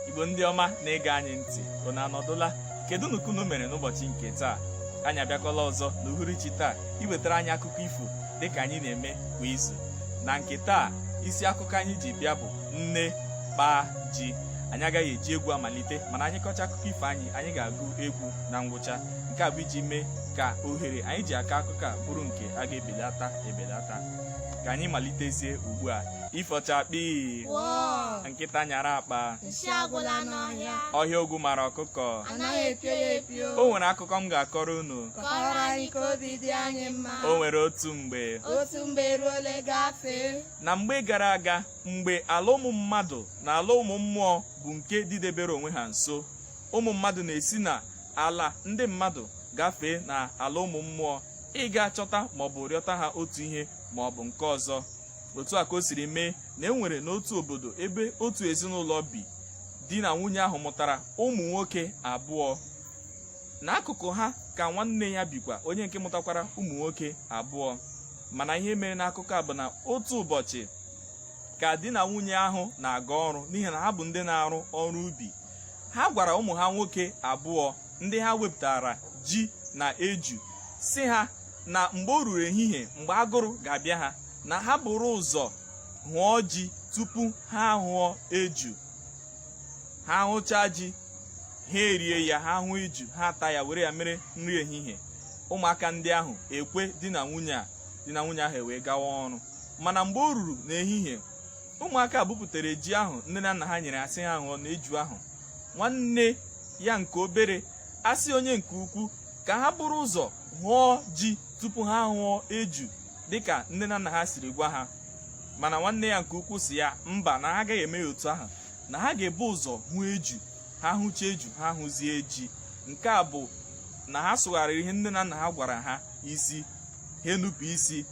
igbo ndị ọma na-ege anyị ntị unu anọdụla kedunụ ka unu mere n'ụbọchị nke taa anyị abịakwala ọzọ n'uhuruchi taa iwetara anyị akụkọ ifo dịka anyị na-eme kwa izu na nke taa isi akụkọ anyị ji bịa bụ nne kpaa ji anyị agaghị eji egwu amalite mana anyị kọcha akụkọ ifo anyị anyị ga-agụ egwu na ngwụcha nke a bụ iji mee ka ohere anyị ji akọ akụkọ a bụrụ nke a ga-ebelata ebelata ka anyị malitezie ugbu a ifo chakpii nkịta nyara akpa nsị agwụla n'ọhịa ọhịa ogwu mara ọkụkọ anaghị epio ya epio o nwere akụkọ m ga-akọrọ unu kọrọ anyị ka obi dị anyị mma o nwere otu mgbe otu mgbe ruole gafee na mgbe gara aga mgbe ala ụmụ mmadụ na ala ụmụ mmụọ bụ nke dịdebere onwe ha nso ụmụ mmadụ na-esi na ala ndị mmadụ gafee na ala ụmụ mmụọ ịga chọta maọbụ rịọta ha otu ihe maọbụ nke ọzọ otu a ka o siri mee na e nwere n'otu obodo ebe otu ezinụlọ bi di na nwunye ahụ mụtara ụmụ nwoke abụọ n'akụkụ ha ka nwanne ya bikwa onye nke mụtakwara ụmụ nwoke abụọ mana ihe mere n'akụkọ a bụ na otu ụbọchị ka di na nwunye ahụ na-aga ọrụ n'ihi na ha bụ ndị na-arụ ọrụ ubi ha gwara ụmụ ha nwoke abụọ ndị ha wepụtara ji na eju sị ha na mgbe o ruru ehihie mgbe agụrụ ga-abịa ha na ha buru ụzọ hụọ ji tupu ha ahụọ eju ha hụchaa ji ha erie ya ha hụọ eju ha ata ya were ya mere nri ehihie ụmụaka ndị ahụ ekwe di na nwunye a di na nwunye ahụ ewee gawa ọrụ mana mgbe o ruru n'ehihie ụmụaka bupụtara ji ahụ nne na nna ha nyere ha sị ha hụọ na eju ahụ nwanne ya nke obere asị onye nke ukwu ka ha buru ụzọ hụọ ji tupu ha hụọ eju dịka nne na nna ha siri gwa ha mana nwanne ya nke ukwu sị ya mba na ha agaghị eme ya otu ahụ na ha ga-ebu ụzọ hụ eju ha hụcha eju ha hụzie ji nke a bụ na ha sụgharịrị ihe nne na nna ha gwara ha isi ha enupụ isi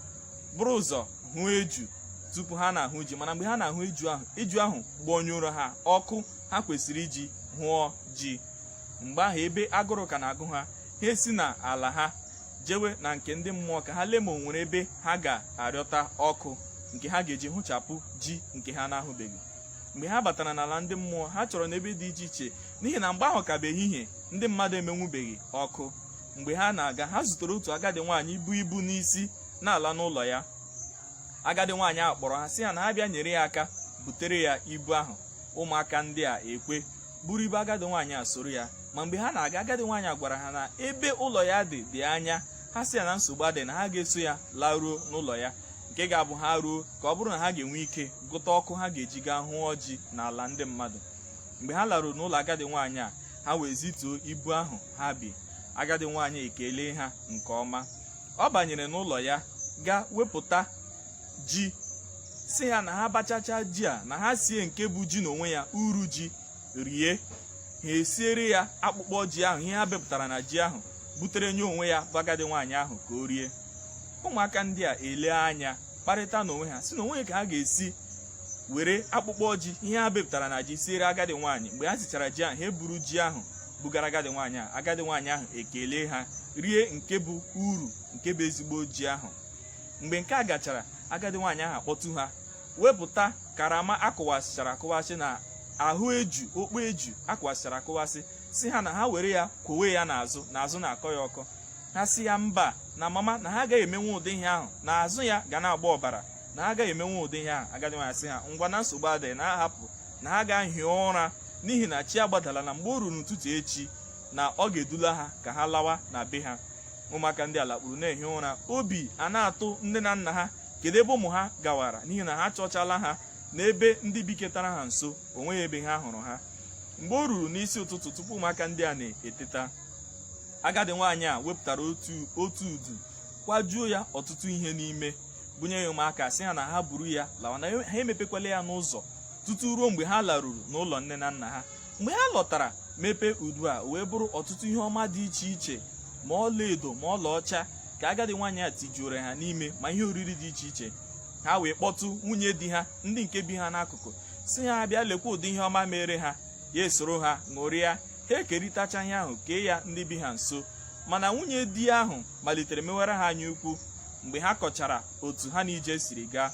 buru ụzọ hụọ eju tupu ha na-ahụ ji mana mgbe ha na-ahụ eju ahụ eju ahụ gbọnyụrụ ha ọkụ ha kwesịrị iji hụọ ji mgbe ahụ ebe agụrụ ka na-agụ ha ha esi na ala ha jewe na nke ndị mmụọ ka ha lee ma o nwere ebe ha ga-arịọta ọkụ nke ha ga-eji hụchapụ ji nke ha na-ahụbeghị mgbe ha batara n'ala ndị mmụọ ha chọrọ n'ebe dị iche iche n'ihi na mgbe ahụ ka bụ ehihie ndị mmadụ emenwubeghị ọkụ mgbe ha na-aga ha zutere otu agadi nwaanyị bu ibu n'isi na-ala n'ụlọ ya agadi nwaanyị ahụ kpọrọ ha sị ha na ha bịa nyere ya aka butere ya ibu ahụ ụmụaka ndị a ekwe buru ibu agadi nwaanyị a soro ya ma mgbe ha na-aga agadi nwaanyị a gwara ha na ebe ụlọ ya dị dị anya ha sị ya na nsogbu adị na ha ga-eso ya laruo n'ụlọ ya nke ga-abụ ha ruo ka ọ bụrụ na ha ga-enwe ike gụta ọkụ ha ga-eji gaa hụọ ji n'ala ndị mmadụ mgbe ha laruru n'ụlọ agadi nwaanyị a ha wee zituo ibu ahụ ha bu agadi nwaanyị ekelee ha nke ọma ọ banyere n'ụlọ ya gaa wepụta ji sị ha na ha bachacha ji a na ha sie nke bụ ji n'onwe ya uru ji rie ha esiere ya akpụkpọ ji ahụ ihe ha bepụtara na ji ahụ butere nye onwe ya bụ agadi nwaanyị ahụ ka o rie ụmụaka ndị a elee anya kparịta n'onwe ha sị na onwe ka ha ga-esi were akpụkpọ ji ihe ha bepụtara na ji siere agadi nwaanyị mgbe ha sichara ji ahụ ha eburu ji ahụ bugara agadi nwaanyị ahụ agadi nwaanyị ahụ ekelee ha rie nke bụ uru nke bụ ezigbo ji ahụ mgbe nke a gachara agadi nwaanyị ahụ akpọtụ ha wepụta karama a kụwasịchara akụwasị na ahụ eju okpu eju a kụwasịchara akụwasị sị ha na ha were ya kwowe ya n'azụ na azụ na-akọ ya ọkọ ha sị ya mba na mama na ha agaghị emenwe ụdị ihe ahụ na azụ ya ga na-agba ọbara na ha agaghị emenwe ụdị ihe ahụ agadi nwaanyị sị ha ngwa na nsogbu adịghị na ha hapụ na ha gaa hie ụra n'ihi na chi agbadala na mgbe o ruru n'ụtụtụ echi na ọ ga-edula ha ka ha lawa na be ha ụmụaka ndị a lakpuru na-ehi ụra obi a na-atụ nne na nna ha kedu ebe ụmụ ha gawara n'ihi na ha chọchala ha n'ebe ndị biketara ha nso o nweghị ebe ha hụrụ ha mgbe o ruru n'isi ụtụtụ tupu ụmụaka ndị a na-eteta agadi nwaanyị a wepụtara otu udu kwajuo ya ọtụtụ ihe n'ime bunye ya ụmụaka sị ha na ha buru ya lawa na ha emepekwala ya n'ụzọ tutu ruo mgbe ha laruru n'ụlọ nne na nna ha mgbe ha lọtara mepee udu a wee bụrụ ọtụtụ ihe ọma dị iche iche ma ọlaedo ma ọlaọcha ka agadi nwaanyị a tijuoro ha n'ime ma ihe oriri dị iche iche ha wee kpọtụ nwunye di ha ndị nke bi ha n'akụkụ sị ha bịa lekwa ụdị ihe ọma mere ha ya esoro ha ṅụrịa ha ekerịtacha ihe ahụ kee ya ndị bi ha nso mana nwunye di ahụ malitere mewere ha anya ukwu mgbe ha kọchara otu ha na ije siri gaa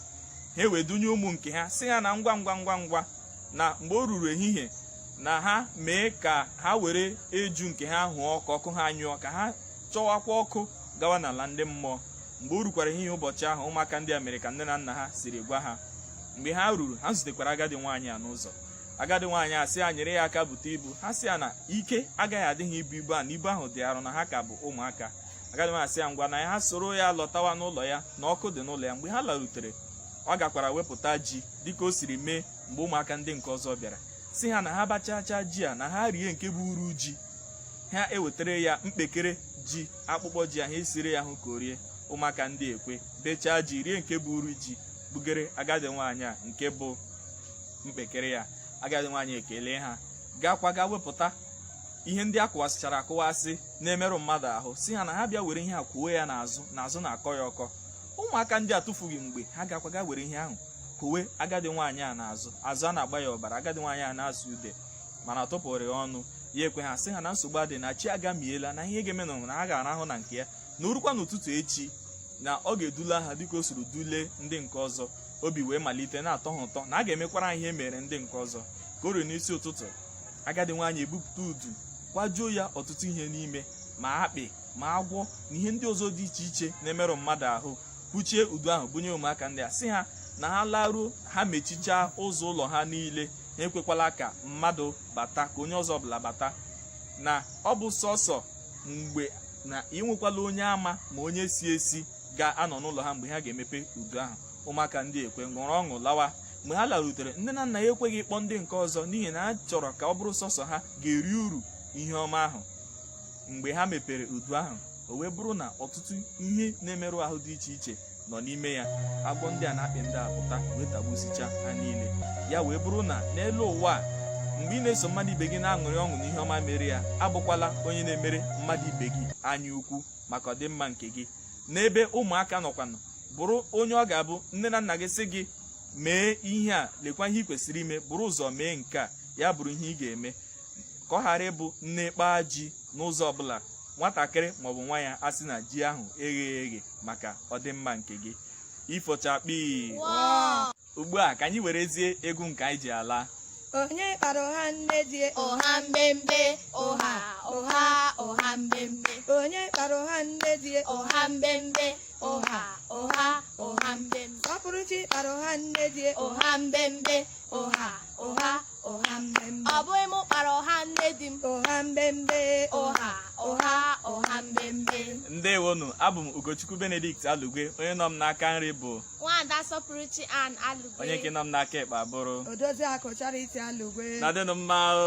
ha wee dunye ụmụ nke ha sị ha na ngwa ngwa ngwa ngwa na mgbe o ruru ehihie na ha mee ka ha were eju nke ha hụọ ọkụ ọkụ ha nyụọ ka ha chọwakwa ọkụ gawa n'ala ndị mmụọ mgbe o rukwara ehihie ụbọchị ahụ ụmụaka ndị a mere ka nne na nna ha siri gwa ha mgbe ha ruru ha zutekwara agadi nwaanyị a n'ụzọ agadi nwaanyị a sị ha nyere ya aka bute ibu ha sị ya na ike agaghị adị ha ibu ibu a na ibu ahụ dị arụ na ha ka bụ ụmụaka agadi nwaanyị sị ya ngwa na ya ha soro ya lọtawa n'ụlọ ya na ọkụ dị n'ụlọ ya mgbe ha larutere ọ gakwara wepụta ji dịka o siri mee mgbe ụmụaka ndị nke ọzọ bịara sị ha na ha bachachaa ji a na ha rie nke bụ uru ji ha ewetara ya mkpekere ji akpụkpọ ji ahụ esiri ya hụ ka o rie ụmụaka ndị ekwe bechaa ji rie nke bụ uru ji bugere agadi nwaanyị a nke bụ mkpekere ya agadi nwaanyị ekele ha gakwa ga wepụta ihe ndị a kụwasịchara akụwasị na-emerụ mmadụ ahụ sị ha na ha bịa were ihe a kọwe ya n'azụ na azụ na-akọ ya ọkọ ụmụaka ndị atụfughị mgbe ha gakwa ga were ihe ahụ kọwe agadi nwaanyị a n'azụ azụ ana-agba ya ọbara agadi nwaanyị a na-asụ ude mana ọ tụpụrụ ya ọnụ ya ekwe ha sị ha na nsogbu adị na chi agamiela na ihe ga-eme na na ha ga-arahụ na nke ya na o rukwa n'ụtụtụ echi na ọ ga-edula ha dịka o siri dule ndị nke ọzọ obi wee malite na-atọ ha ụtọ na a ga-emekwara ha ihe e mere ndị nke ọzọ ka o ruru n'isi ụtụtụ agadi nwaanyị ebupụta udu kwajuo ya ọtụtụ ihe n'ime ma akpị ma agwọ na ihe ndị ọzọ dị iche iche na-emerụ mmadụ ahụ kpuchie udu ahụ bunye ụmụaka ndị a sị ha na ha laruo ha mechichaa ụzọ ụlọ ha niile ha ekwekwala ka mmadụ bata ka onye ọzọ ọbụla bata na ọ bụ sọsọ mgbe na enwekwala onye ama ma onye si esi ga-anọ n'ụlọ ha mgbe ha ga-emepe udu ahụ ụmụaka ndị ekwe ṅụrụ ọṅụ lawa mgbe ha larutere nne na nna ya ekweghị ịkpọ ndị nke ọzọ n'ihi na ha chọrọ ka ọ bụrụ sọsọ ha ga-eri uru ihe ọma ahụ mgbe ha mepere udu ahụ o wee bụrụ na ọtụtụ ihe na-emerụ ahụ dị iche iche nọ n'ime ya agwọ ndị a na akpị ndị a pụta wee tagbusicha ha niile ya wee bụrụ na n'elu ụwa a mgbe ị na-eso mmadụ ibe gị na-aṅụrị ọṅụ n'ihe ọma mere ya abụkwala onye na-emere mmadụ ibe gị anya ukwu maka ọdịmma nke gị n'ebe ụmụaka nọkwanụ bụrụ onye ọ ga-abụ nne na nna gị sị gị mee ihe a lekwa ihe ị kwesịrị ime buru ụzọ mee nke a ya bụrụ ihe ị ga-eme ka ọ ghara ịbụ nne kpaa ji n'ụzọ ọbụla nwatakịrị maọbụ nwa ya asị na ji ahụ egheghị eghe maka ọdịmma nke gị ifochakpi ugbu a ka anyị werezie egwu nke anyị ji ala onye kpara ụha nne di ụha mbembe ụha ụha ụha mbembe onye kpara ụha nne di ụha mbembe ụha ụha ụha mbembe sọpụrụchi kpara ụha nne di ụha mbembe ụha ụha ụha mbembe ọ bụghị m kpara ụha nne di m ụha mbembe ụha ụha ụha mbembe ndewonụ abụ m ugochukwu benedict alugwe onye nọ m n'aka nri bụ nwaada sọpụrụchi ann alugwe onye nke nọ m n'aka ekpe abụrụ odoziakụ charity alugwe nọdịnụ mma o